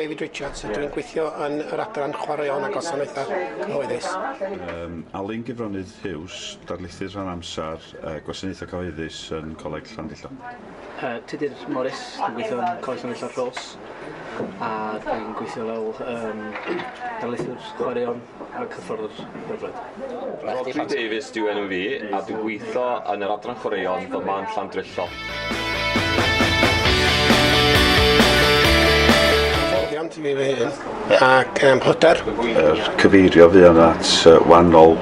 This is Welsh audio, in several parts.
David Richards, yeah. dwi'n gweithio yn yr adran chwaraeon a gwasanaethau cyhoeddus. Um, Alun Gyfronydd Hughes, darlithydd rhan amser uh, gwasanaethau cyhoeddus yn Coleg Llandillo. Uh, Tudur Morris, dwi'n gweithio yn Coleg Llanello'r Rhos a dwi'n gweithio fel um, darlithwr chwaraeon a cyffordd hyfryd. Rodri Davies dwi'n enw fi a dwi'n gweithio yn yr adran chwaraeon fy man Llandrillo. Hyfforddiant i mi fy hun yeah. ac um, hoder. Er cyfeirio fi yna at uh, wahanol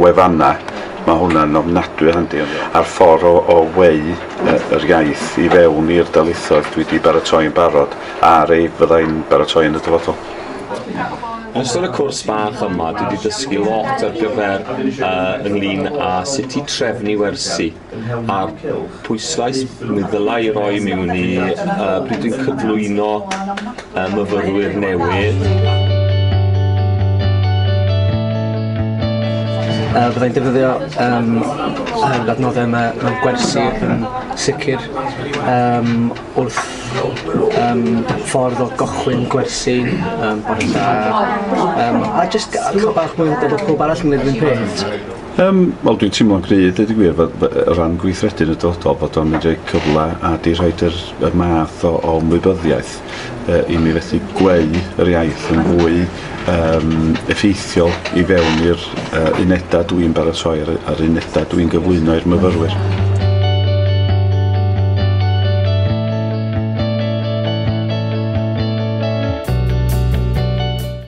wefannau, mae hwnna'n ofnadwy handi. A'r ffordd o, o weu uh, yr iaith i fewn i'r dalithoedd dwi wedi baratoi'n barod a'r ei fyddai'n baratoi yn y dyfodol. Yn ystod y cwrs bach yma, dwi wedi dysgu lot ar gyfer uh, ynglyn â sut i trefnu wersi a'r pwyslais mi ddylai roi mewn i uh, pryd dwi'n cyflwyno uh, myfyrwyr newydd. Uh, byddai'n defnyddio um, yr adnoddau yma mewn gwersi yn sicr um, wrth um, ffordd o gochwyn gwersi um, bore da um, a jyst cael bach mwy o bobl arall yn gwneud yr un peth Yym, wel dwi'n teimlo'n gry, deud y gwir, fod o ran gweithredu yn y dyfodol, bod o'n mynd i roi cyfle a di rhaid yr, y math o, o ymwybyddiaeth uh, i mi fethu gweu yr iaith yn fwy um, effeithiol i fewn i'r uh, unedau dwi'n baratoi a'r, ar unedau dwi'n gyflwyno i'r myfyrwyr.